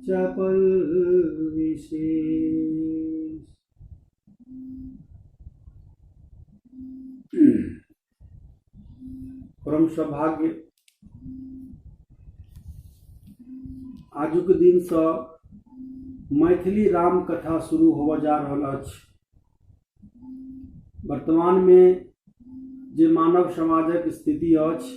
चपल विशेष परम सौभाग्य आजुक दिन से मैथिली राम कथा शुरू होबऽ जा रहल अछि वर्तमान में जे मानव समाजक स्थिति अछि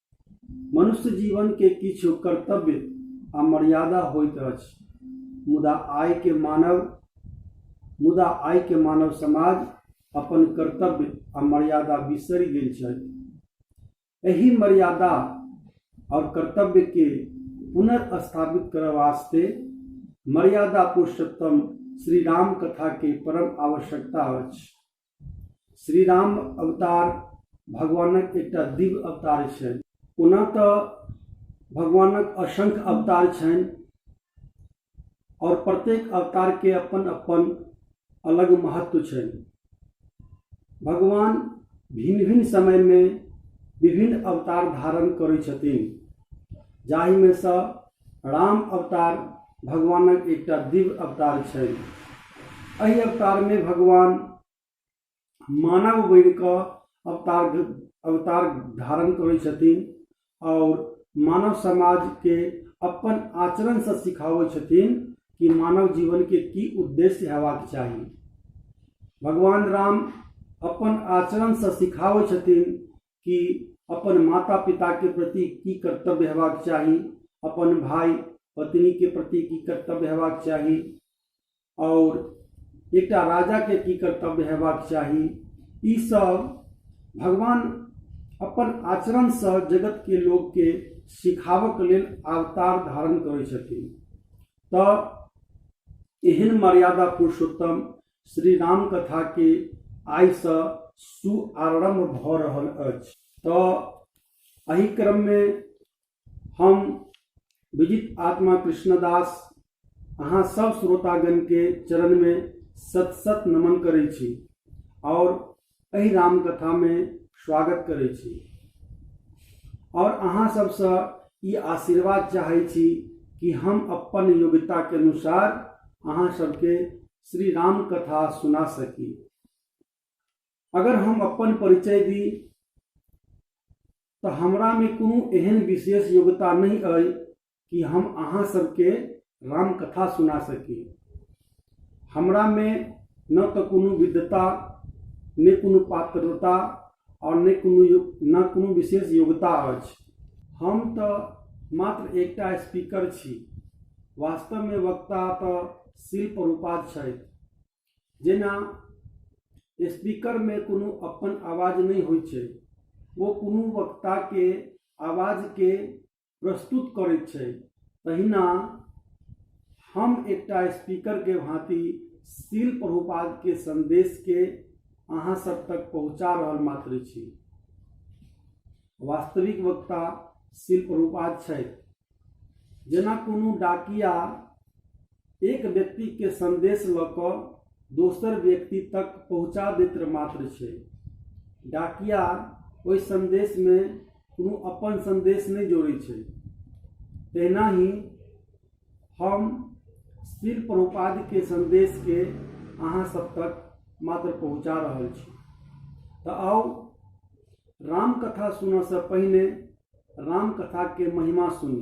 मनुष्य जीवन के किछु कर्तव्य आ मर्यादा होइत अछि मुदा आय के मानव मुदा आय के मानव समाज अपन कर्तव्य आ मर्यादा बिसरि गेल छथि एहि मर्यादा और कर्तव्य के पुनर्स्थापित करय वास्ते मर्यादा पुरुषोत्तम श्री राम कथा के परम आवश्यकता अछि श्री राम अवतार भगवानक एकटा दिव्य अवतार छनि ओना तऽ भगवानक असंख्य अवतार छनि आओर प्रत्येक अवतारके अपन अपन अलग महत्व छनि भगवान भिन्न भिन्न समयमे विभिन्न अवतार धारण करै छथिन जाहिमे सँ राम अवतार भगवानक एकटा दिव्य अवतार छै एहि अवतारमे भगवान मानव बनि कऽ अवतार अवतार धारण करै छथिन आओर मानव समाजके अपन आचरणसँ सिखाबै छथिन कि मानव जीवनके की उद्देश्य हेबाक चाही भगवान राम अपन आचरणसँ सिखाबै छथिन कि अपन माता पिताके प्रति की कर्तव्य हेबाक चाही अपन भाय पत्नीके प्रति की कर्तव्य हेबाक चाही आओर एकटा राजाके की कर्तव्य हेबाक चाही ई सब भगवान अपन आचरणसँ जगतके लोकके सिखाबऽके लेल अवतार धारण करै छथिन तऽ एहन मर्यादा पुरुषोत्तम श्री राम कथा के आइ से शुभारंभ भ रहल अछि तो एहि क्रम में हम विजित आत्मा कृष्णदास अहाँ सब श्रोतागण के चरण में सत सत नमन करै छी और एहि रामकथामे स्वागत करै छी आओर अहाँ सबसँ ई आशीर्वाद चाहै छी कि हम अपन योग्यताके अनुसार अहाँ सबके श्री राम कथा सुना सकी अगर हम अपन परिचय दी तऽ हमरामे कोनो एहन विशेष योग्यता नहि अइ कि हम अहाँ सबके राम कथा सुना सकी हमरा में न तो कोनो विद्वता ने कोनो पात्रता और ने कोनो यो- न कोनो विशेष योग्यता अछि हम तो मात्र एकटा स्पीकर छी वास्तव में वक्ता तो शिल्प रूपात छथि जेना स्पीकर में कोनो अपन आवाज नहीं होइ छै वो कोनो वक्ता के आवाज के प्रस्तुत करैत छै तहिना हम एकटा स्पीकरके भाँति शिल प्रभुपादके सन्देशके अहाँ सब तक पहुँचा रहल मात्र छी वास्तविक वक्ता शिल प्रभुपाद छथि जेना कोनो डाकिया एक व्यक्ति के संदेश ल क दोसर व्यक्ति तक पहुंचा दैत मात्र छै डाकिया ओहि संदेश मे कोनो अपन संदेश नहि जोड़ै छै तहिना ही हम श्री प्रभुपाद के संदेश के अहाँ सब तक मात्र पहुंचा रहल छी तऽ आउ राम कथा सुनऽ से पहिने राम कथा के महिमा सुनी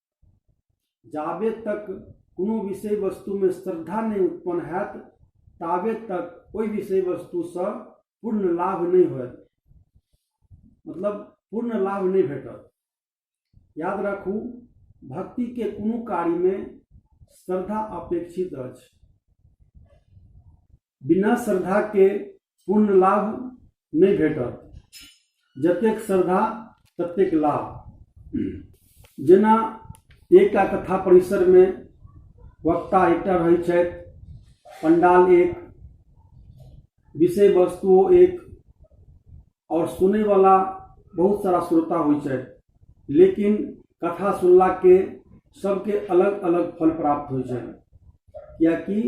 जाबे तक कोनो विषय वस्तुमे श्रद्धा नहि उत्पन्न हैत ताबे तक ओहि विषय वस्तुसँ पूर्ण लाभ नहि होयत मतलब पूर्ण लाभ नहि भेटत याद राखू भक्तिके कोनो कार्यमे श्रद्धा अपेक्षित अछि बिना श्रद्धाके पूर्ण लाभ नहि भेटत जतेक श्रद्धा ततेक लाभ जेना एकटा कथा परिसरमे वक्ता एकटा रहै छथि पंडाल एक विषय वस्तुओ एक आओर सुनैवला बहुत सारा श्रोता होइ छै लेकिन कथा सुनलाके सबके अलग अलग फल प्राप्त होइ छै किएकि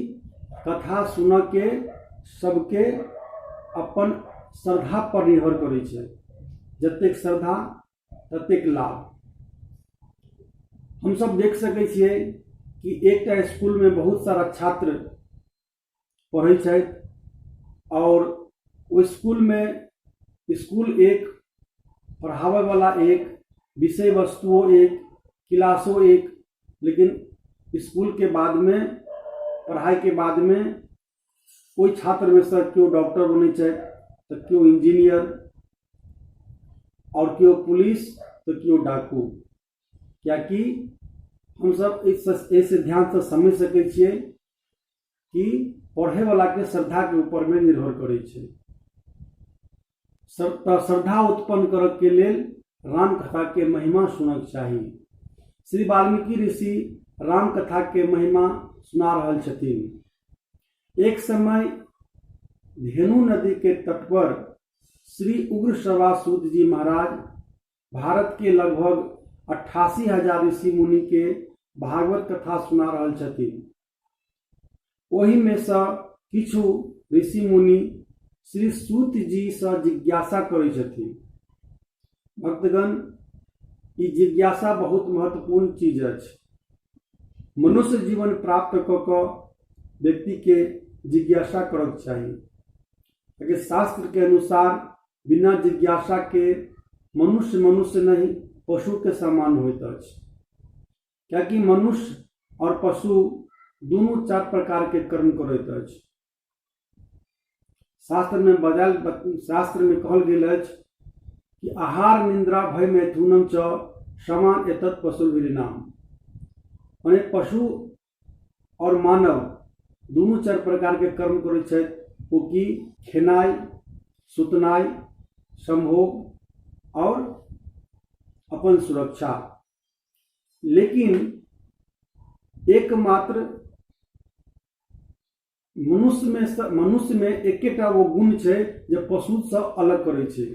कथा सुनऽके सबके अपन श्रद्धापर निर्भर करै छै जतेक श्रद्धा ततेक लाभ हमसब देख सकै छियै कि एकटा इसकुलमे बहुत सारा छात्र पढ़ै छथि आओर ओहि इसकुलमे इसकुल एक पढ़ाबैवला एक विषय वस्तुओ एक किलासो एक लेकिन इसकुलके बादमे पढ़ाइके बादमे ओहि छात्रमे सँ केओ डॉक्टर बनै छथि तऽ केओ इन्जीनियर आओर केओ पुलिस तऽ केओ डाकू किएकि हमसभ एहिसँ एहिसँ ध्यानसँ समझि सकै छियै कि पढ़ैवलाके श्रद्धाके ऊपरमे निर्भर करै छै सर- तऽ श्रद्धा उत्पन्न करऽके लेल रामकथाके महिमा सुनक चाही श्री वाल्मीकि ऋषि रामकथाके महिमा सुना रहल छथिन एक समय धेनु नदीके तट पर श्री उग्र श्रवासूत जी महाराज भारत के लगभग अट्ठासी हजार ऋषि मुनि के भागवत कथा सुना रहल छथि ओहि में से किछु ऋषि मुनि श्री सूत जी से जिज्ञासा करै छथि भक्तगण ई जिज्ञासा बहुत महत्वपूर्ण चीज अछि मनुष्य जीवन प्राप्त कऽ कऽ व्यक्ति के जिज्ञासा करक चाही ताकि शास्त्र के अनुसार बिना जिज्ञासा के मनुष्य मनुष्य नहीं पशु के समान होइत अछि कियाकि मनुष्य और पशु दुनू चार प्रकार के कर्म करैत अछि शास्त्र में बजाल शास्त्र में कहल गेल अछि कि आहार निंद्रा भय मैथुनम च समान एतत् पशु विरिनाम माने पशु और मानव दुनू चार प्रकार के कर्म करैत छथि ओ की खेनाइ सुतनाइ संभोग और अपन सुरक्षा लेकिन एकमात्र मनुष्यमे मनुष्यमे एकेटा ओ गुण छै जे पशुसँ अलग करै छै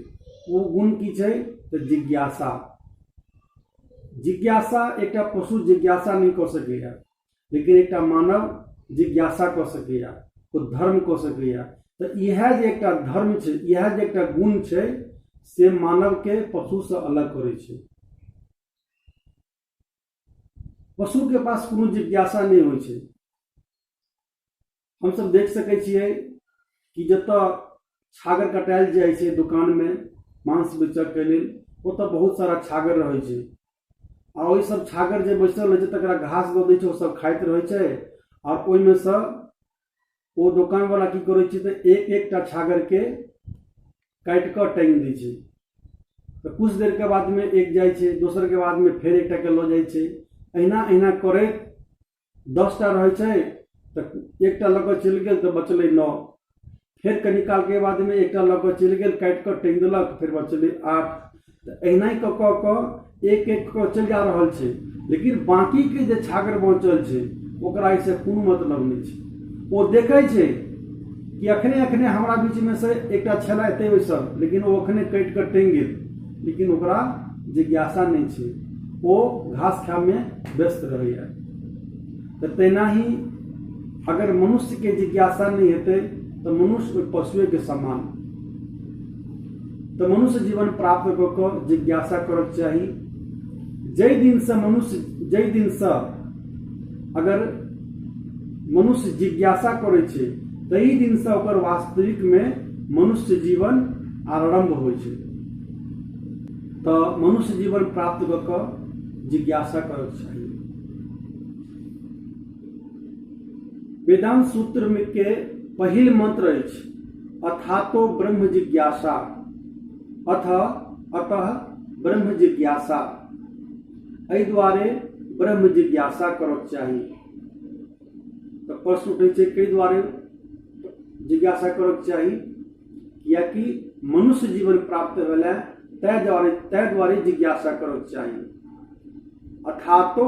ओ गुण की छै तऽ जिज्ञासा जिज्ञासा एकटा पशु जिज्ञासा नहि कऽ सकैए लेकिन एकटा मानव जिज्ञासा कऽ सकैए ओ धर्म कऽ सकैए तऽ इएह जे एकटा धर्म छै इएह जे एकटा गुण छै से मानवके पशुसँ अलग करै छै पशु के पास कोनो जिज्ञासा नहि होइ छै हमसभ देख सकै छियै कि जतऽ छागर कटायल जाइ छै दुकान मे मांस बेचक के लेल ओतऽ बहुत सारा छागर रहै छै आ ओहि सब छागर जे बैसल रहै छै तकरा घास दऽ दै छै ओ सब खाइत रहै छै आओर ओहिमे सँ ओ दोकानवला की करै छै तऽ एक एकटा छागरके काटि कऽ टाँगि दै छै तऽ किछु देरके बादमे एक जाइ छै दोसरके बादमे फेर एकटाके लऽ जाइ छै अहिना अहिना करैत दसटा रहै छै तऽ एकटा लऽ कऽ चलि गेल तऽ बचलै नओ फेर कनि कालके बादमे एकटा लऽ कऽ चलि गेल काटि कऽ टाँगि देलक फेर बचलै आठ तऽ एहिना कऽ कऽ कऽ एक एक कऽ चलि जा रहल छै लेकिन बाँकीके जे छागर बचल छै ओकरा एहिसँ कोनो मतलब नहि छै ओ देखै छै कि अखने अखने हमरा बीचमे से एकटा छलै एतै बैसल लेकिन ओ अखने कटि कऽ टंगि गेल लेकिन ओकरा जिज्ञासा नहि छै ओ घास खायमे व्यस्त रहैए तऽ तहिना ही अगर मनुष्यके जिज्ञासा नहि हेतै तऽ मनुष्य ओहि पशुएके समान तऽ मनुष्य जीवन प्राप्त कऽ कऽ जिज्ञासा करक चाही जाहि दिनसँ मनुष्य जाहि दिनसँ अगर मनुष्य जिज्ञासा करै छै ताहि दिनसँ ओकर वास्तविकमे मनुष्य जीवन आरम्भ होइ छै तऽ मनुष्य जीवन प्राप्त कऽ कऽ जिज्ञासा करक चाही वेदांत सूत्र में के पहिल मंत्र अछि अथातो ब्रह्म जिज्ञासा अथ अतः ब्रह्म जिज्ञासा एहि दुआरे ब्रह्म जिज्ञासा करक चाही तऽ प्रश्न उठै छै कई दुआरे जिज्ञासा करक चाही कियाकि मनुष्य जीवन प्राप्त भेलै तै द्वारे तै द्वारे जिज्ञासा करक चाही अथातो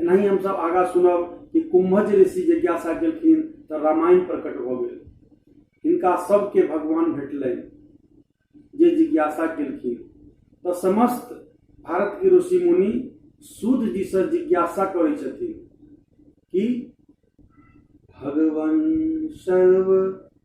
एनाही हम सब आगा सुनब कि कुंभज ऋषि जिज्ञासा केलखिन तऽ रामायण प्रकट भऽ गेल हिनका सबके भगवान भेटलै जे जिज्ञासा केलखिन तऽ समस्त भारत के ऋषि मुनि सूत जी से जिज्ञासा करै छथिन कि भगवान सर्व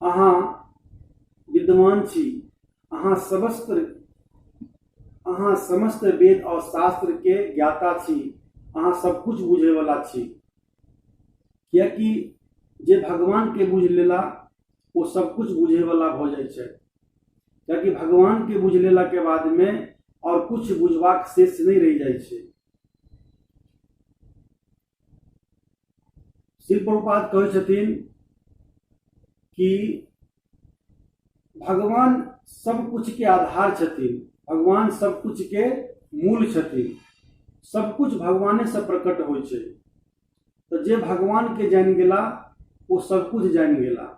अहाँ विद्वान छी अहाँ समस्त अहाँ समस्त वेद और शास्त्र के ज्ञाता छी अहाँ सब कुछ बुझे वाला छी कियाकि जे भगवान के बुझ लेला वो सब कुछ बुझे वाला हो जाए छै कियाकि भगवान के बुझ लेला के बाद में और कुछ बुझवाक शेष नहीं रह जाए छै शिल प्रपात कहै छथिन कि भगवान सब कुछ के आधार छथिन भगवान सब कुछ के मूल छथिन सब कुछ भगवाने से प्रकट होइ छै तऽ जे भगवान के जानि गेला ओ सब कुछ जानि गेला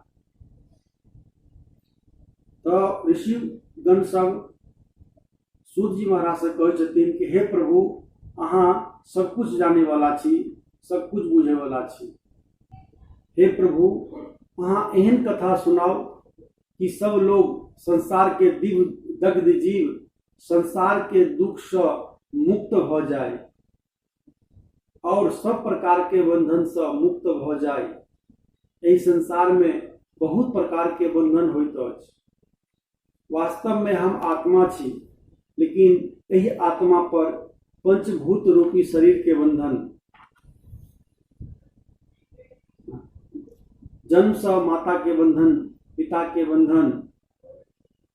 तऽ ऋषिगण सब सूत जी महाराज से कहै छथिन कि हे प्रभु अहाँ सब कुछ जाने वाला छी सब कुछ बुझे वाला छी हे प्रभु अहाँ एहन कथा सुनाओ कि सब लोग संसार के दिव दग्ध जीव संसार के दुख से मुक्त हो जाए और सब प्रकार के बंधन से मुक्त भ जाय एहि संसार में बहुत प्रकार के बंधन होइत अछि वास्तव में हम आत्मा छी लेकिन एहि आत्मा पर पंचभूत रूपी शरीर के बंधन जन्म से माता के बंधन पिता के बंधन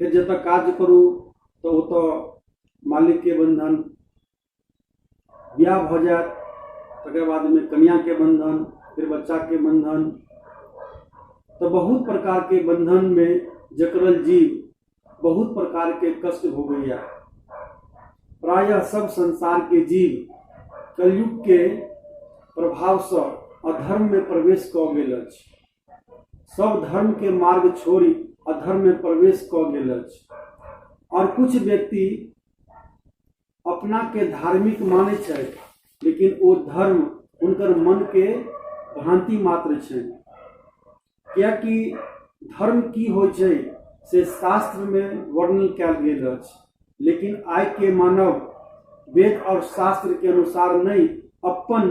फेर जतऽ काज करू तऽ ओतऽ मालिकके बन्धन बियाह भऽ जायत तकर बादमे कनियाके बन्धन फेर बच्चाके बन्धन तऽ बहुत प्रकारके बन्धनमे जकड़ल जीव बहुत प्रकारके कष्ट भोगैया प्रायः सब संसारके जीव कलयुगके प्रभावसँ अधर्ममे प्रवेश कऽ गेल अछि सब धर्म के मार्ग छोड़ी अधर्म में प्रवेश क गेल अछि और कुछ व्यक्ति अपना के धार्मिक माने छै लेकिन ओ धर्म उनकर मन के भ्रांति मात्र छै क्या कि धर्म की हो छै से शास्त्र में वर्णन कैल गेल अछि लेकिन आय के मानव वेद और शास्त्र के अनुसार नहीं अपन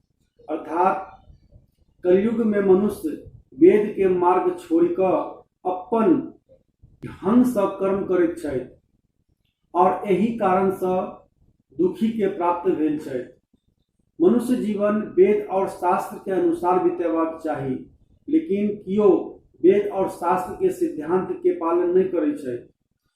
अर्थात कलयुग में मनुष्य वेद के मार्ग छोड़ कर अपन ढंग से कर्म करैत छथि और यही कारण से दुखी के प्राप्त भेल छथि मनुष्य जीवन वेद और शास्त्र के अनुसार बितेबाक चाही लेकिन कियो वेद और शास्त्र के सिद्धांत के पालन नहीं करे छथि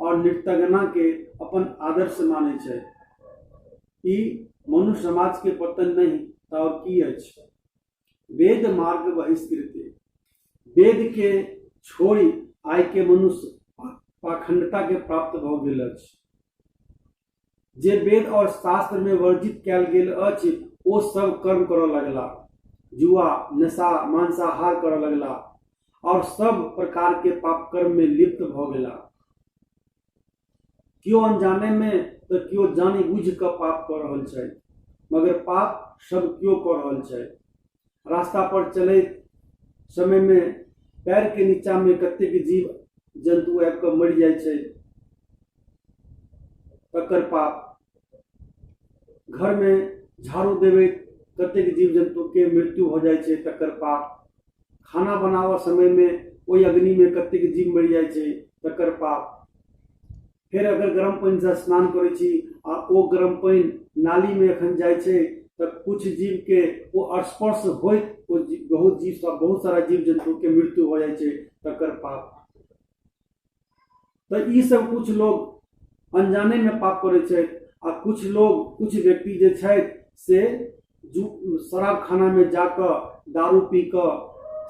और नृत्यगना के अपन आदर्श माने छै ई मनुष्य समाज के पतन नहीं तब की अछि वेद मार्ग बहिष्कृत वेद के छोड़ी आय के मनुष्य पाखंडता के प्राप्त भ गेल अछि जे वेद और शास्त्र में वर्जित कयल गेल अछि ओ सब कर्म करऽ लगला जुआ नशा मांसाहार करऽ लगला और सब प्रकार के पाप कर्म में लिप्त भ गेला क्यों अनजाने में तो क्यों जानी बुझ क पाप कर रहल छै मगर पाप सब क्यों कर रहल छै रास्ता पर चलैत समय में पैर के नीचा में कतेक जीव जंतु आबि कऽ मरि जाइ छै तकर पाप घर में झाड़ू देवे कतेक जीव जंतु के मृत्यु हो जाइ छै तकर पाप खाना बनावऽ समय में ओहि अग्नि में कतेक जीव मरि जाइ छै तकर पाप फेर अगर गर्म पानिसँ स्नान करै छी आ ओ गर्म पानि नालीमे एखन जाइ छै तऽ कुछ जीवके ओ स्पर्श होइत ओ जीव बहुत जीव सब बहुत सारा जीव जन्तुके मृत्यु हो जाइ छै तकर पाप तऽ ई सब कुछ लोग अनजानेमे पाप करै छै आ कुछ लोग कुछ व्यक्ति जे छथि से जू शराब खानामे जा कऽ दारू पी कऽ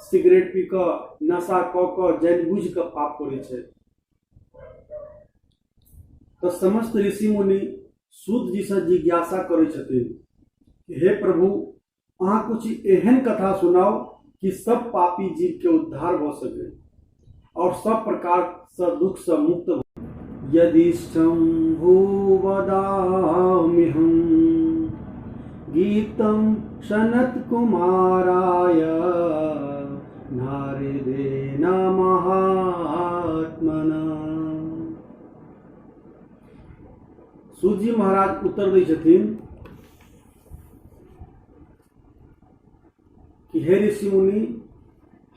सिगरेट पी कऽ नशा कऽ कऽ जानबूझि कऽ पाप करै छै तऽ समस्त ऋषि मुनि सूत जी से जिज्ञासा करै छथिन कि हे प्रभु अहाँ कुछ एहन कथा सुनाओ कि सब पापी जीव के उद्धार भ सके और सब प्रकार से दुख से मुक्त भ यदि शंभु वदामि हम गीतम सनत कुमाराय नारदे महात्मना सूजी महाराज उत्तर दै छथिन कि हे ऋषि मुनि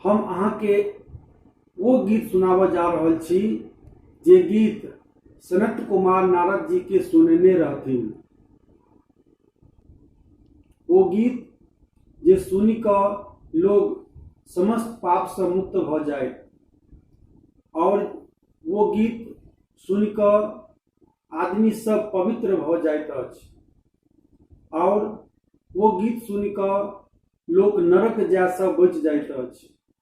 हम अहाँके ओ गीत सुनाबऽ जा रहल छी जे गीत सनत कुमार नारद जी के सुनने रहथिन ओ गीत जे सुनि कऽ लोग समस्त पापसँ मुक्त भऽ जाय आओर ओ गीत सुनि कऽ आदमी सब पवित्र भऽ जाइत अछि आओर ओ गीत सुनि कऽ लोक नरक जायसँ बचि जाइत अछि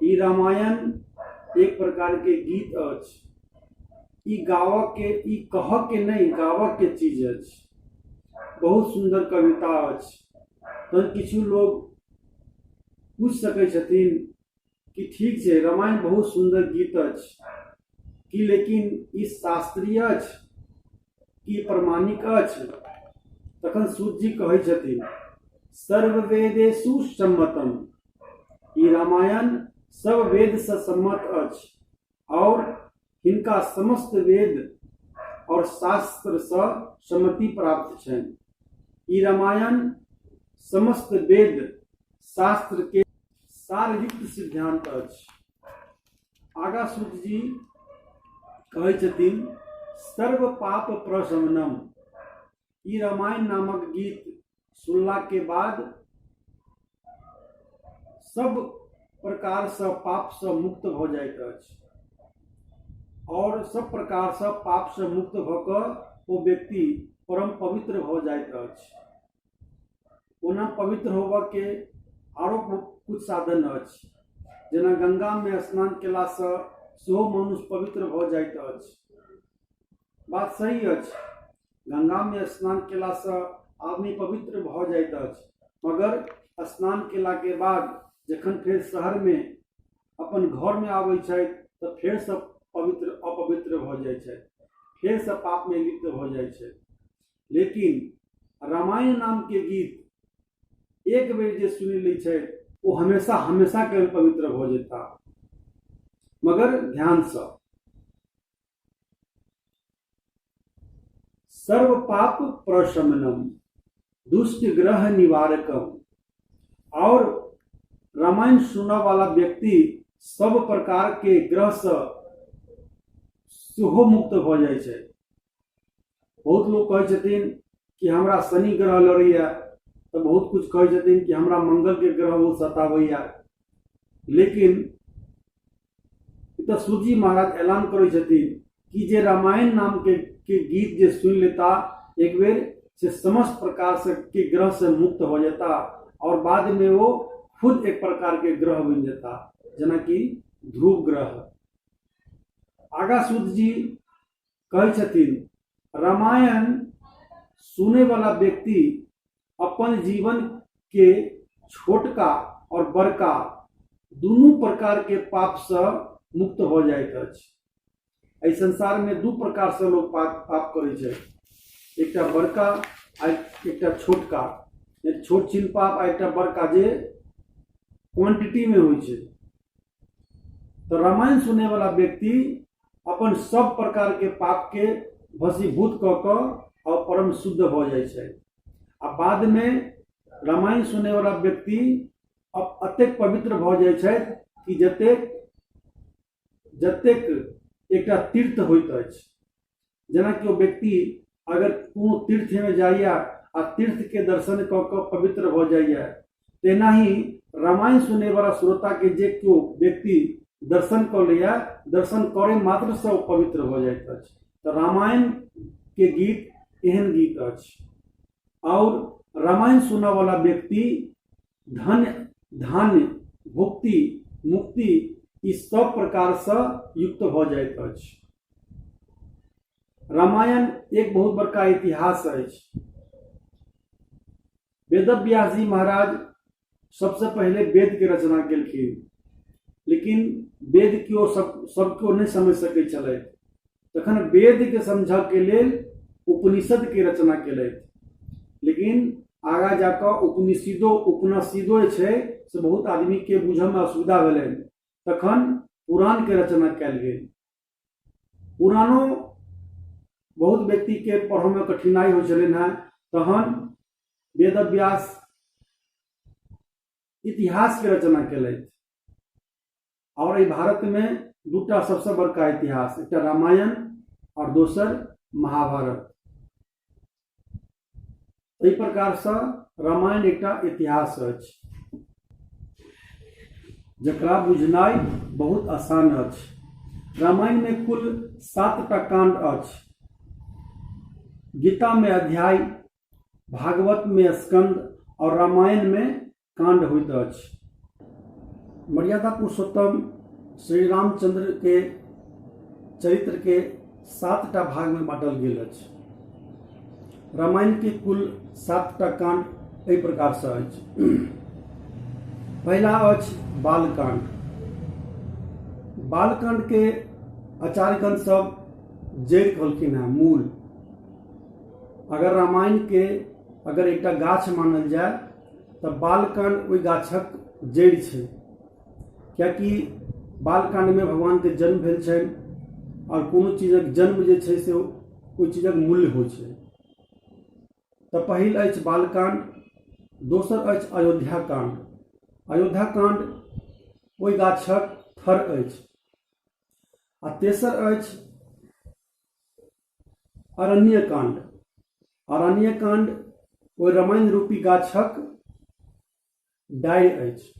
ई रामायण एक प्रकार के गीत अछि ई गावऽ के ई कहऽ के नहीं गावऽ के चीज अछि बहुत सुंदर कविता अछि तहन किछु लोग पूछ सकै छथिन कि ठीक छै रामायण बहुत सुंदर गीत अछि कि लेकिन ई शास्त्रीय अछि ई प्रमाणिक अछि तखन सूत जी कहै छथिन सर्व वेदेशु सम्मतम ई रामायण सब वेद से सम्मत अछि और हिनका समस्त वेद और शास्त्र से सम्मति प्राप्त छन ई रामायण समस्त वेद शास्त्र के सारयुक्त सिद्धांत अछि आगा सूत जी कहै छथिन सर्व पाप प्रशमनम ई रामायण नामक गीत सुनला के बाद सब प्रकार से पाप से मुक्त भ जाइत अछि और सब प्रकार से पाप से मुक्त भ क ओ व्यक्ति परम पवित्र भ जाइत अछि ओना पवित्र होबऽ के आरो कुछ साधन अछि जेना गंगा में स्नान केला से सेहो मनुष्य पवित्र भऽ जाइत अछि बात सही अछि गंगा में स्नान केला से आदमी पवित्र भऽ जाइत अछि मगर स्नान केला के बाद जखन फेर शहर में अपन घर में आबै छथि तऽ फेर से पवित्र अपवित्र भऽ जाइ छथि फेर से पाप में लिप्त भऽ जाइ छथि लेकिन रामायण नाम के गीत एक बेर जे सुनि लै छै ओ हमेशा हमेशा के पवित्र हो जेता मगर ध्यान से सर्व पाप प्रशमनम दुष्ट ग्रह निवारकम और रामायण सुनने वाला व्यक्ति सब प्रकार के ग्रह से सेहो मुक्त भ जाइ छै बहुत लोग कहे छथिन कि हमरा शनि ग्रह लड़ैया तो बहुत कुछ कहे छथिन कि हमरा मंगल के ग्रह वो सतावैया लेकिन तो सूर्य जी महाराज ऐलान करे छथिन कि जे रामायण नाम के, के गीत जे सुन लेता एक बेर से समस्त प्रकार से के ग्रह से मुक्त हो जाता और बाद में वो खुद एक प्रकार के ग्रह बन जाता जना कि ध्रुव ग्रह आगा सूत जी कहै छथिन रामायण सुने वाला व्यक्ति अपन जीवन के छोटका और बड़का दुनू प्रकार के पाप से मुक्त हो जाइत अछि एहि संसार में दू प्रकार से लोग पाप पाप करै छै एकटा बड़का आ एकटा छोटका एक छोट छिन पाप आ एकटा बड़का जे क्वांटिटी में होइ छै तो रामायण सुने वाला व्यक्ति अपन सब प्रकार के पाप के भसीभूत क क और परम शुद्ध भ जाइ छै आ बाद में रामायण सुने वाला व्यक्ति अब अतेक पवित्र भ जाइ छै कि जतेक जतेक एकटा तीर्थ होइत अछि जेना केओ व्यक्ति अगर कोनो तीर्थमे जाइए आ तीर्थके दर्शन कऽ कऽ पवित्र भऽ जाइए तेना ही रामायण सुनैवला श्रोताके जे केओ व्यक्ति दर्शन कऽ लैए दर्शन करै मात्रसँ ओ पवित्र भऽ जाइत अछि तऽ रामायणके गीत एहन गीत अछि आओर रामायण सुनऽवला व्यक्ति धन धान्य भुक्ति मुक्ति ई सब प्रकारसँ युक्त भऽ जाइत अछि रामायण एक बहुत बड़का इतिहास अछि वेद व्यास जी महाराज सबसे पहले वेद के रचना केलखिन लेकिन वेद के ओ सब सबको नहीं समझ सके चले तखन वेद के समझ के लेल उपनिषद के रचना केले लेकिन आगा जाकर उपनिषदो उपनिषदो जे छै से बहुत आदमी के बुझे में असुविधा भेलै तखन पुराण के रचना कयल गेल पुरानो बहुत व्यक्ति के पढ़ो में कठिनाई हो चलन है तहन वेद व्यास इतिहास के रचना कल और भारत में दूटा सबसे बड़का इतिहास एक रामायण और दोसर महाभारत एहि प्रकारसँ रामायण एकटा इतिहास अछि जकरा बुझनाइ बहुत आसान अछि रामायणमे कुल सातटा कांड अछि गीतामे अध्याय भागवतमे स्कंद और रामायणमे कांड होइत अछि मर्यादा पुरुषोत्तम श्री रामचंद्र के चरित्र के सात टा भाग में बांटल गेल अछि रामायण के कुल सात टा कांड एहि प्रकार से अछि पहिला अछि बालकांड बालकांड के आचार्यगण सब जड़ कहलखिन है मूल अगर रामायण के अगर एकटा गाछ मानल जाय तऽ बालकान ओहि गाछक जड़ि छै कियाकि बालकानमे भगवानके जन्म भेल छनि आओर कोनो चीजक जन्म जे छै से ओहि चीजक मूल्य होइ छै तऽ पहिल अछि बालकांड दोसर अछि अयोध्या कांड अयोध्या कांड ओहि गाछक थर अछि आ तेसर अछि अरण्य कांड अरण्य कांड ओ रामायण रूपी गाछक डाय अछि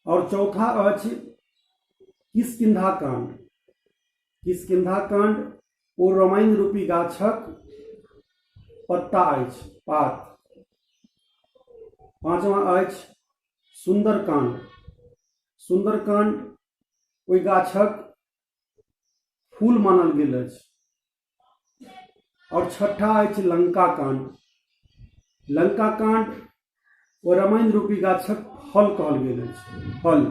और चौथा अछि किसकिधा कांड किसकिधा कांड ओ रामायण रूपी गाछक पत्ता अछि पात पांचवा अछि सुंदरकांड सुंदरकांड ओहि गाछक फूल मानल गेल अछि और छठा अछि लंका कांड लंका कांड ओ रामायण रूपी गाछक फल कहल गेल अछि फल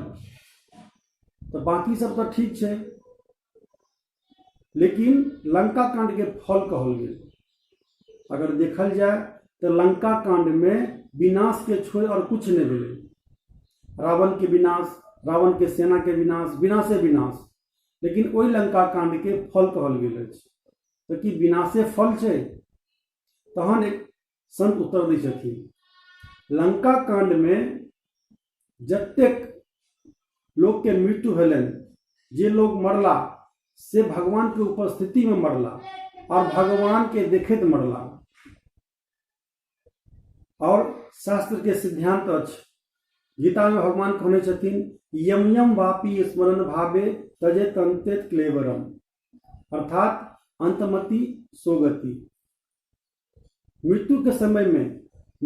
तो बाकी सब तो ठीक है लेकिन लंका कांड के फल कहल गेल अगर देखल जाए तऽ लंका कांडमे विनाशके छोड़ि आओर किछु नहि भेलै रावणके विनाश रावणके सेनाके विनाश विनाशे विनाश लेकिन ओहि लंका कांडके फल कहल गेल अछि तऽ की विनाशे फल छै तहन एक संत उत्तर दै छथिन लंका कांडमे जतेक लोकके मृत्यु भेलनि जे लोग मरला से भगवान के उपस्थिति में मरला और भगवान के देखित मरला और शास्त्र के सिद्धांत अछि गीता में भगवान कहने छथिन यम यम वापी स्मरण भावे तजे तंते क्लेवरम अर्थात अंतमति सोगति मृत्युके समयमे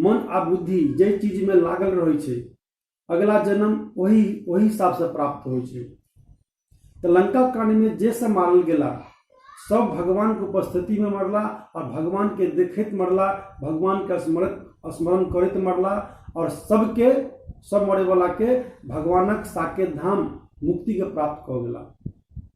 मन आ बुद्धि जाहि चीजमे लागल रहै छै अगिला जन्म ओहि ओहि हिसाबसँ प्राप्त होइ छै तऽ लंका कांडमे जे सब मारल गेला सब भगवानके उपस्थितिमे मरला आओर भगवानके देखैत मरला भगवानके स्मरण स्मरण करैत मरला आओर सबके सब मरैवलाके भगवानक साकेत धाम मुक्तिके प्राप्त कऽ गेला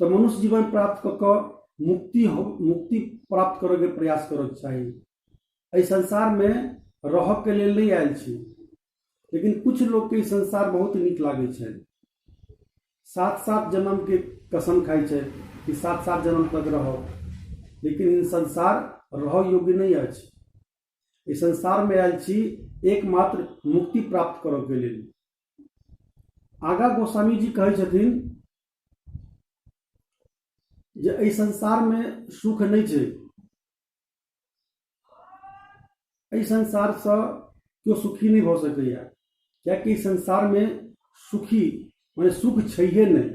तऽ मनुष्य जीवन प्राप्त कऽ कऽ मुक्ति हो मुक्ति प्राप्त करैके प्रयास करैके चाही एहि संसारमे रहऽके लेल नहि आयल छी लेकिन कुछ लोकके ई संसार बहुत नीक लागै छै सात सात जन्मके कसम खाइ छै कि सात सात जन्म तक रहब लेकिन ई संसार रहऽ योग्य नहि अछि एहि संसारमे आयल छी एकमात्र मुक्ति प्राप्त करऽके लेल आगा गोस्वामी जी कहै छथिन जे एहि संसारमे सुख नहि छै एहि संसारसँ केओ सुखी नहि भऽ सकैए किएकि एहि संसारमे सुखी मने सुख छैहे नहि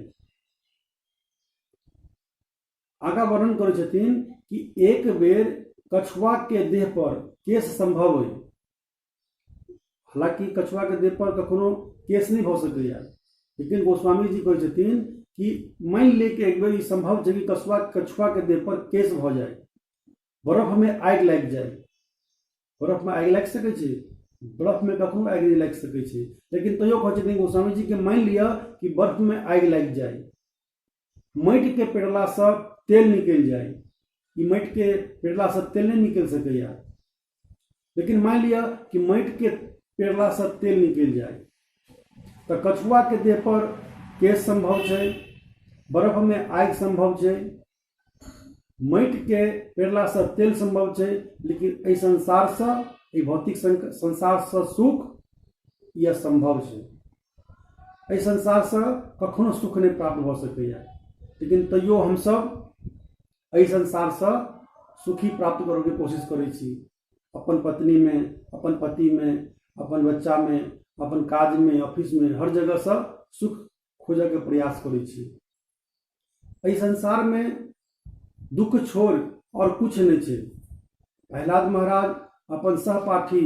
आगा वर्णन करै छथिन कि एक बेर कछुआके देह पर केस संभव अइ हालांकि कछुआ के देह पर कखनो केस नहीं भ सकैया लेकिन गोस्वामी जी कहे छथिन कि मान ले कि एक बेर संभव है कि कछुआ कछुआ के देह पर केस भ जाए बर्फ में आग लग जाए बर्फ में आग लग सके छै बर्फ में कखनो आग नहीं लग सके छै लेकिन तैयो कहे छथिन गोस्वामी जी के मान लिया कि बर्फ में आग लग जाए माटिके पेरलासँ तेल निकलि जाय ई माटिके पेरलासँ तेल नहि निकलि सकैए लेकिन मानि लिअ कि माटिके पेरलासँ तेल निकलि जाय तऽ कछुआके देहपर केश सम्भव छै बर्फमे आगि सम्भव छै माटिके पेरलासँ तेल सम्भव छै लेकिन एहि संसारसँ एहि भौतिक संसारसँ सुख ई असम्भव छै एहि संसारसँ कखनो सुख नहि प्राप्त भऽ सकैए लेकिन तैयो हमसभ एहि संसारसँ सुखी प्राप्त करैके कोशिश करै छी अपन पत्नीमे अपन पतिमे अपन बच्चामे अपन काजमे ऑफिसमे हर जगहसँ सुख खोजैके प्रयास करै छी एहि संसारमे दुःख छोड़ आओर किछु नहि छै प्रहलाद महाराज अपन सहपाठी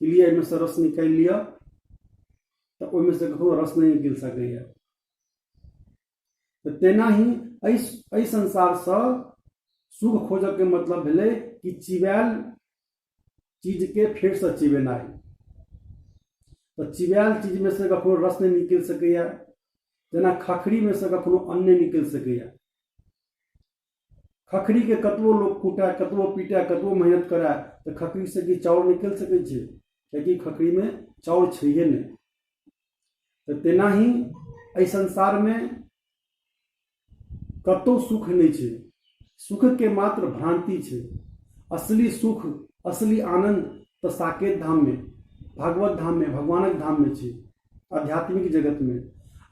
कि लिअ एहिमे से रस निकालि लिअ तऽ ओहिमे से ककरो रस नहि निकलि सकैए तऽ तेनाही एहि एहि संसारसँ सुख खोजयके मतलब भेलै कि चिबायल चीजके फेरसँ चिबेनाइ तऽ चिबायल चीजमे से कखनो रस नहि निकलि सकैए जेना खखरीमे से कखनो अन्न नहि निकलि सकैए खखरीके कतबो लोक कुटाए कतबो पीटाए कतबो मेहनत कराए तऽ खखरीसँ की चाउर निकलि सकै छै कियाकि खखरीमे चाउर छैहे नहि तऽ तेनाही एहि संसारमे कतहु सुख नहि छै सुखके मात्र भ्रान्ति छै असली सुख असली आनन्द तऽ साकेत धाममे भागवत धाममे भगवानक धाममे छै आध्यात्मिक जगतमे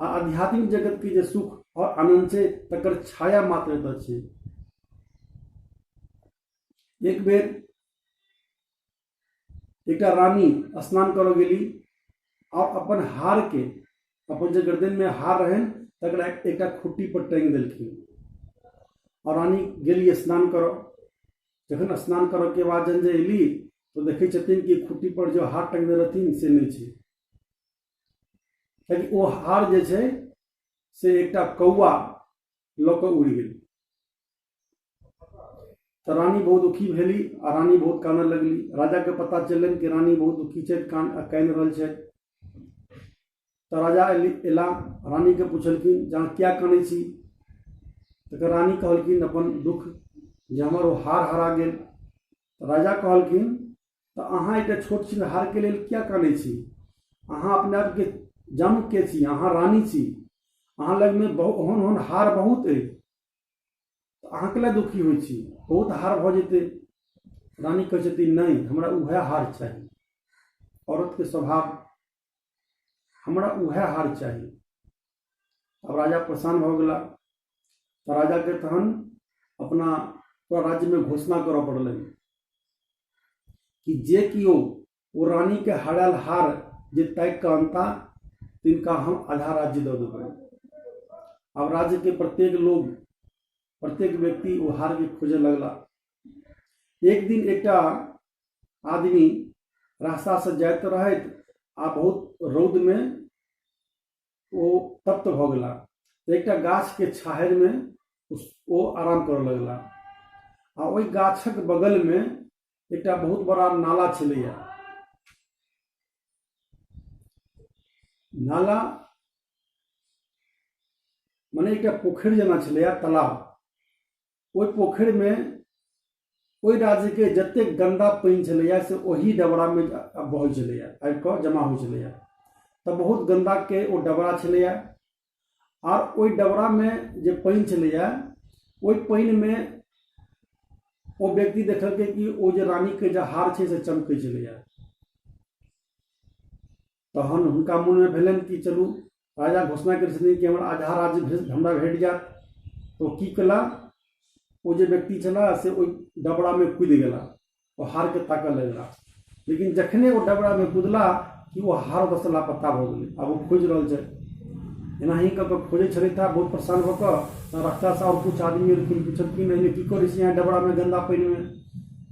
आ आध्यात्मिक जगतके जे सुख आओर आनन्द छै तकर छाया मात्र एतऽ छै एक बेर एकटा रानी स्नान करऽ गेली आओर अपन हारके अपन जे गर्दनमे हार रहनि तकरा एकटा खुट्टी पर टाँगि देलखिन आओर रानी गेली स्नान करऽ जखन स्नान करऽके बाद जहन जे अयली तऽ देखै छथिन कि खुट्टी पर जे हार टाँगने रहथिन से नहि छै कियाकि ओ हार जे छै से एकटा कौआ लऽ कऽ उड़ि गेल तऽ रानी बहुत दुखी भेली आ रानी बहुत कानऽ लगली राजाके पता चललनि कि रानी बहुत दुखी छथि कान कानि रहल छथि तऽ राजा अयली अयला रानीके पुछलखिन जे अहाँ किया कानै छी तकर रानी कहलखिन अपन दुःख जे हमर ओ हार हरा गेल राजा कहलखिन तऽ अहाँ एकटा छोट छिन हारके लेल किया कानै छी अहाँ अपने आपके जम के छी अहाँ रानी छी अहाँ लगमे बहुत ओहन ओहन हार बहुत अछि अहाँ कैला दुखी होइ छी बहुत हार भऽ जेतै रानी कहै छथिन नहि हमरा उएह हार चाही औरतके स्वभाव हमरा उएह हार चाही अब राजा परेशान हो गया तो राजा के तहन अपना पूरा राज्य में घोषणा करऽ पड़ल कि जे कियो ओ रानी के हराल हार जे तय कहता तिनका हम आधा राज्य दऽ देबै अब राज्य के प्रत्येक लोग प्रत्येक व्यक्ति ओ हार के खोजे लगला एक दिन एक आदमी रास्ता से जात रहे आ बहुत रौद में वो तप्त भ गला एक गाछ के छाहर में वो आराम कर लगला आ वही गाछक बगल में एक बहुत बड़ा नाला छे नाला मने एक पोखर जना छे तालाब ओहि पोखरिमे ओहि राज्यके जतेक गन्दा पानि छलैए से ओही डबरामे बहै छलैए आबि कऽ जमा होइ छलैए तऽ बहुत गन्दाके ओ डबरा छलैए आ ओहि डबरामे जे पानि छलैए ओहि पानिमे ओ व्यक्ति देखलकै कि ओ जे रानीके जे हार छै से चमकै छलैए तहन हुनका मोनमे भेलनि कि चलू राजा घोषणा करै छथिन कि हमर आधा राज्य भेज हमरा भेट जायत ओ की केला ओ जे व्यक्ति छला से ओहि डबरामे कूदि गेला ओ हारके ताकऽ लगला लेकिन जखने ओ डबरामे कूदला कि ओ हार ओतऽसँ लापता भऽ गेलै आब ओ खोजि रहल छै एनाही कऽ कऽ खोजै छलथि आ बहुत परेशान भऽ कऽ तऽ रस्तासँ आओर किछु आदमी एलखिन पुछलखिन एहिमे की करै छी अहाँ डबरामे गन्दा पानिमे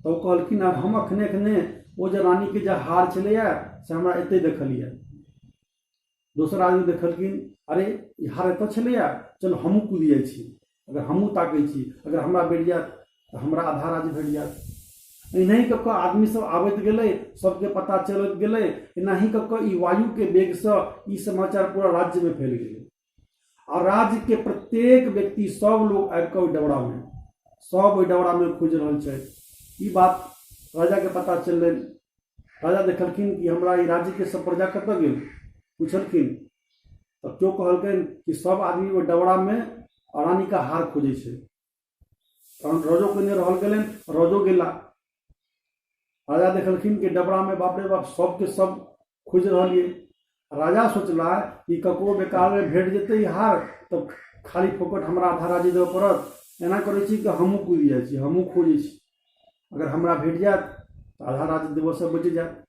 तऽ ओ कहलखिन हम अखने अखने ओ जे रानीके जे हार छलैए से हमरा एतै देखल यऽ दोसर आदमी देखलखिन अरे ई हार एतऽ छलैए चलू हमहूँ कूदि जाइ छी अगर हमहूँ ताकै छी अगर हमरा भेट जायत तऽ हमरा आधा राज्य भेट जायत एनाही कऽ कऽ आदमी सब आबैत गेलै सबके पता चलैत गेलै एनाही कऽ कऽ ई वायुके वेगसँ ई समाचार पूरा राज्यमे फैल गेलै आ राज्य के प्रत्येक व्यक्ति सब लोग आबि कऽ ओहि डबरा में सब ओहि डबरा में खोज रहल छै ई बात राजा के पता चललै राजा देखलखिन कि हमरा ई राज्य के सब प्रजा कतऽ गेल पूछलखिन तऽ केओ कहलकै कि सब आदमी ओहि डबरा में रानी का हार खोजै छै तहन रजो कने रहल गेलनि रजो गेला राजा देखलखिन कि डबरा में बाप रे बाप सबके सब खोज रहल ये राजा सोचला कि ककरो बेकार में भेट जेतै हार तब खाली फोकट हमरा आधा राजे देबऽ पड़त एना करै छी कि हमहूँ कुदि जाइ छी हमहूँ खोजै छी अगर हमरा भेट जायत तऽ आधा राज देबऽसँ बचि जायत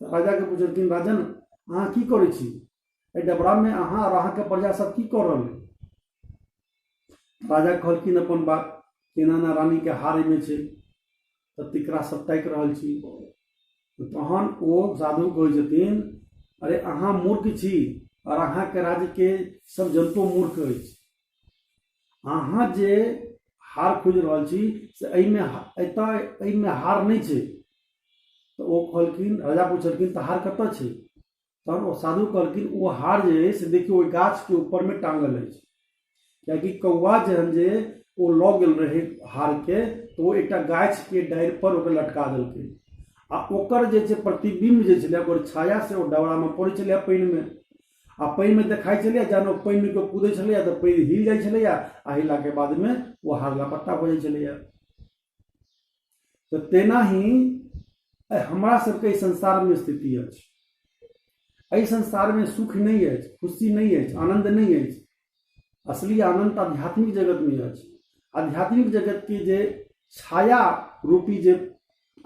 राजाके पुछलखिन राजन अहाँ की करै छी एहि डबरामे अहाँ आओर अहाँके प्रजा सब की कऽ रहल राजा कहलखिन अपन बात केना ना रानीके हारैमे छै तऽ तिकरा सब ताकि रहल छी तहन ओ साधु कहै छथिन अरे अहाँ मूर्ख छी आओर अहाँके राज्यके सब जनतो मूर्ख अछि अहाँ जे हार खोजि रहल छी से एहिमे एतय एहिमे हार नहि छै तऽ ओ कहलखिन राजा पुछलखिन तऽ हार कतऽ छै तहन ओ साधु कहलखिन ओ हार जे अछि से देखियौ ओहि गाछके ऊपरमे टाँगल अछि कियाकि कौआ जहन जे ओ लऽ गेल रहै हारके तऽ ओ एकटा गाछके डाढ़िपर ओकरा लटका देलकै आ ओकर जे छै प्रतिबिम्ब जे छलै ओकर छाया से ओ डबरामे पड़ै छलै पानिमे आ पानिमे देखाइ छलैए जहन ओ पानिमे केओ कूदै छलैए तऽ पानि हिल जाइ छलैए आ हिललाके बादमे ओ हार लापता भऽ जाइ छलैए तऽ तेना ही हमरा सबके एहि संसारमे स्थिति अछि एहि संसारमे सुख नहि अछि खुशी नहि अछि आनन्द नहि अछि असली आनन्द तऽ आध्यात्मिक जगतमे अछि आध्यात्मिक जगतके जे छाया रूपी जे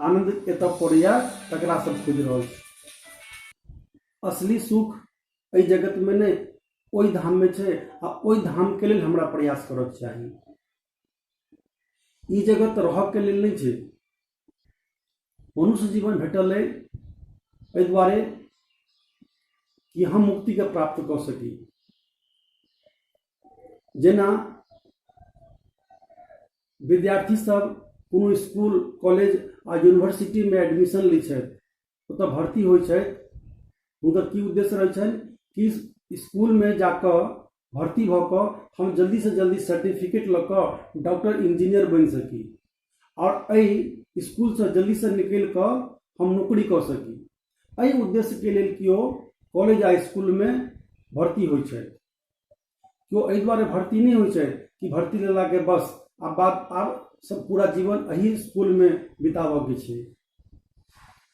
आनन्द एतऽ पड़ैए तकरा सब खोजि रहल छी असली सुख एहि जगतमे नहि ओहि धाममे छै आ ओहि धामके लेल हमरा प्रयास करऽके चाही ई जगत रहऽके लेल नहि छै मनुष्य जीवन भेटल अइ एहि दुआरे कि हम मुक्तिके प्राप्त कऽ सकी जेना विद्यार्थी सब कोनो स्कूल कॉलेज आ यूनिवर्सिटीमे एडमिशन लै छथि ओतऽ भर्ती होइ छथि हुनकर की उद्देश्य रहै छनि कि इसकुलमे जाकऽ भर्ती भऽ कऽ हम जल्दीसँ जल्दी सर्टिफिकेट लऽ कऽ डॉक्टर इंजीनियर बनि सकी आओर एहि इसकुलसँ जल्दीसँ निकलि कऽ हम नौकरी कऽ सकी एहि उद्देश्यके लेल केओ कॉलेज आ इसकुलमे भर्ती होइ छथि केओ एहि दुआरे भर्ती नहि होइ छै कि भर्ती लेलाके बस आब बात आब सब पूरा जीवन एहि स्कूलमे बिताबऽके छै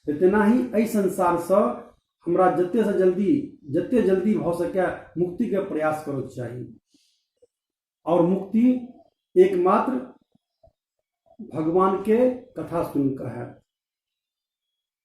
तऽ तेनाही एहि संसारसँ हमरा जतेसँ जल्दी जते जल्दी भऽ सकै मुक्तिके प्रयास करऽके चाही आओर मुक्ति एकमात्र भगवानके कथा सुनिकऽ हैत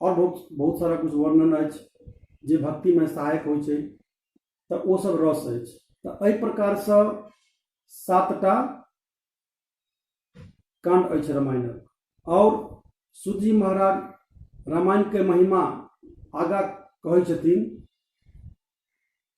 आओर बहुत बहुत सारा किछु वर्णन अछि जे भक्तिमे सहायक होइ छै तऽ ओ सब रस अछि तऽ एहि प्रकारसँ सातटा कांड अछि रामायणक आओर सूजी महाराज रामायणके महिमा आगा कहै छथिन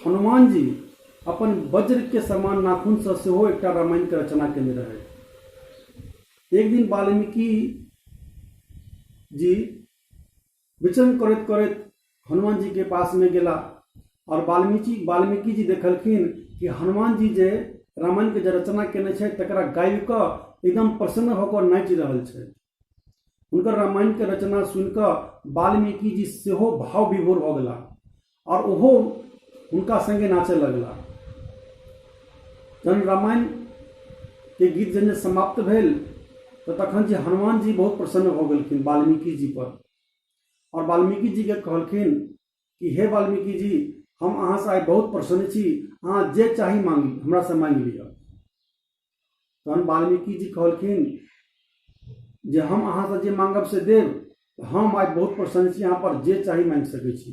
हनुमान जी अपन वज्र के समान नाखून से सेहो एकटा रामायण के रचना केने रहे एक दिन वाल्मीकि जी विचरण करत करत हनुमान जी के पास में गेला और वाल्मीकि वाल्मीकि जी देखलखिन कि हनुमान जी जे रामायण के जे रचना केने छे तकरा गायब क एकदम प्रसन्न होकर नाचि रहल छे हुनकर रामायण के रचना सुनिकऽ वाल्मीकि जी सेहो भाव विभोर भऽ गेला आओर ओहो हुनका संगे नाचय लगला जहन रामायण के गीत जहन समाप्त भेल तऽ तखन जे हनुमान जी बहुत प्रसन्न भऽ गेलखिन वाल्मीकि जी पर आओर वाल्मीकि जी के कहलखिन कि हे वाल्मीकि जी हम अहाँसँ आइ बहुत प्रसन्न छी अहाँ जे चाही मांगी हमरा से मांगि लिअ तहन वाल्मीकि जी कहलखिन जे हम अहाँसँ जे मांगब से देब हम आइ बहुत प्रसन्न छी अहाँ पर जे चाही मांगि सकैत छी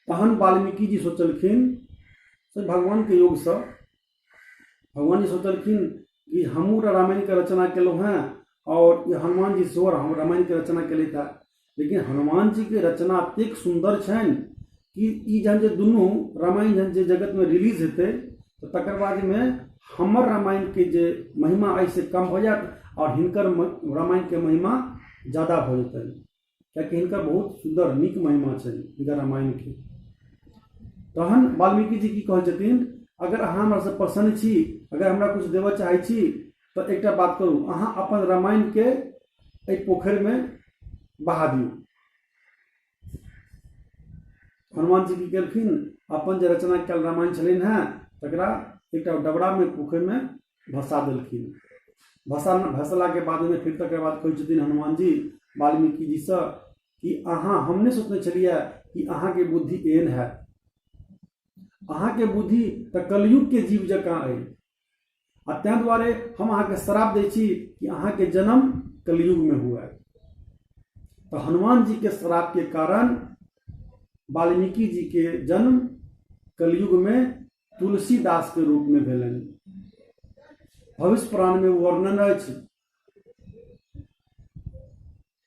तहन वाल्मीकि जी सोचलखिन से भगवानके योगसँ भगवान जी सोचलखिन कि हमहूँ रामायणके रचना केलहुँ हेँ आओर हनुमान जी सेहो रामायणके रचना केलथि हेँ लेकिन हनुमान जी के रचना अत्येक सुंदर छनि कि ई जहन जे दुनू रामायण जहन जे जगत में रिलीज हेतै तऽ तकर बाद में हमर रामायण के जे महिमा अइ से कम हो जायत और हिनकर म- रामायण के महिमा ज्यादा हो जेतै कियाकि हिनकर बहुत सुंदर नीक महिमा छनि हिनकर रामायण के तहन वाल्मीकि जी की कहै छथिन अगर अहाँ हमरासँ प्रसन्न छी अगर हमरा किछु देबऽ चाहै छी तऽ एकटा बात करू अहाँ अपन रामायणके एहि पोखरिमे बहा दियौ हनुमान जी की केलखिन अपन जे रचना कयल रामायण छलनि हेँ तकरा एकटा डबरामे पोखरिमे भसा देलखिन भसा भसलाके बादमे फिर तकर बाद कहै छथिन हनुमान जी वाल्मीकि जीसँ कि अहाँ हम नहि सोचने छलियै कि अहाँके बुद्धि एहन हैत अहाँके बुद्धि तऽ कलयुगके जीव जकाँ अइ आ ताहि दुआरे हम अहाँके श्राप दै छी कि अहाँके जन्म कलयुगमे हुए तऽ हनुमान जीके श्रापके कारण वाल्मीकि जीके जन्म कलयुगमे तुलसीदासके रूपमे भेलनि भविष्य पुराणमे वर्णन अछि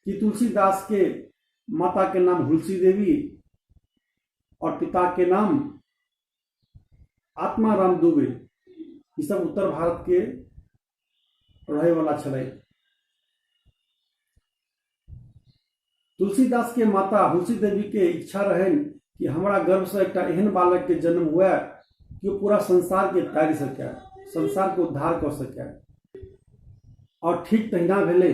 कि तुलसीदासके माताके नाम हुलसी देवी आओर पिताके नाम आत्मा राम दुबे ई सब उत्तर भारत के रहे वाला छलै तुलसीदास के माता हुलसी देवी के इच्छा रहन कि हमरा गर्भ से एकटा एहन बालक के जन्म हुए कि ओ पूरा संसार के तारि सके संसार के उद्धार कर सके और ठीक तहिना भेलै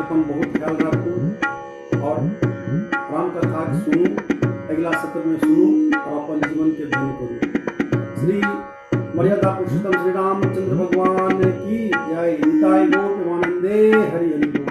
अपन बहुत ख्याल राखू और राम कथा के सुनू अगला सत्र में सुनू और अपन जीवन के धन करू श्री मर्यादा पुरुषोत्तम श्री रामचंद्र भगवान की जय निताय गौर प्रेमानंदे हरि हरि बोल।